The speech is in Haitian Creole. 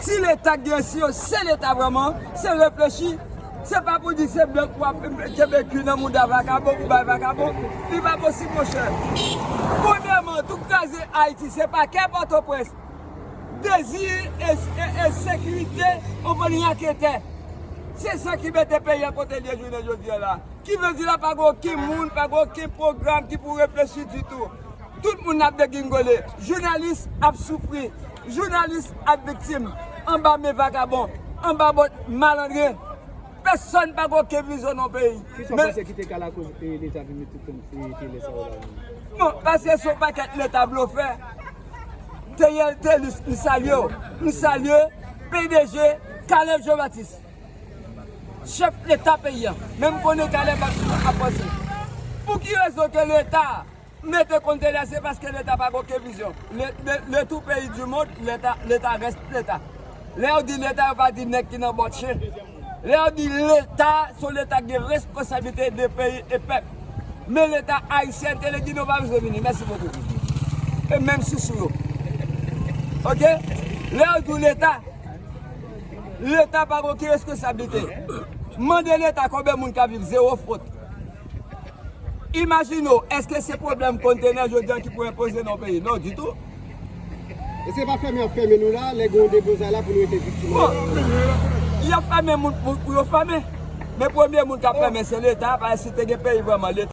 Si leta gen si yo se leta vreman se reflechi se pa pou di se blan wap kenbe kwi nan mouda vakabon pou bay vakabon li pa posib monchè premyeman tou kraze ayiti se pa kè pòtoprens dezi e sekirite anvan raketè se sa ki mete peyi an kote li ye jounen jodi an la ki vle di la pa gen oken moun pa gen oken pwogram ki pou reflechi ditou. Tout moun ap degingole, jounalis ap soufri, jounalis ap viktim anba men vagabon, anba bòt malandren. Pèsòn pa gen oken vizyon nan peyi. Ki sa w panse ki te ka lakoz Leta vin mete tout moun ki te lè sa yo la ri? Bon, paske se yon pakèt Leta blofè. Theriel Thelus, m salye w. M salye pdg Kalev Jean Baptiste. Chèf leta peyi a menm konnen kalè machin nan ap vanse pou ki rezon ke leta mete kont dèyè se paske leta pa gen oken vizyon le tout peyi du mond leta leta reste leta lè yo di leta yo pa di nèg ki nan bòt chen lè yo di leta son leta ki gen responsablite de peyi e pèp men leta ayisyen telegin yo pa bezwen vini mèsi bokou e menm sousou yo ok lè yo di w leta. Leta pa gen oken reskonsablite. Mande leta konbyen moun kap viv zewo fwot. Imajine w eske se pwoblèm kontenè jodi an ki pou enpoze nan yon peyi. Non ditou. E se pa fèmen yap fèmen nou la, lè gen yon deblozay la pou nou rete viktim an. Bon, yap fèmen moun pou yo fèmen. Men premye moun kap fèmen se leta, paske si te gen peyi vreman leta.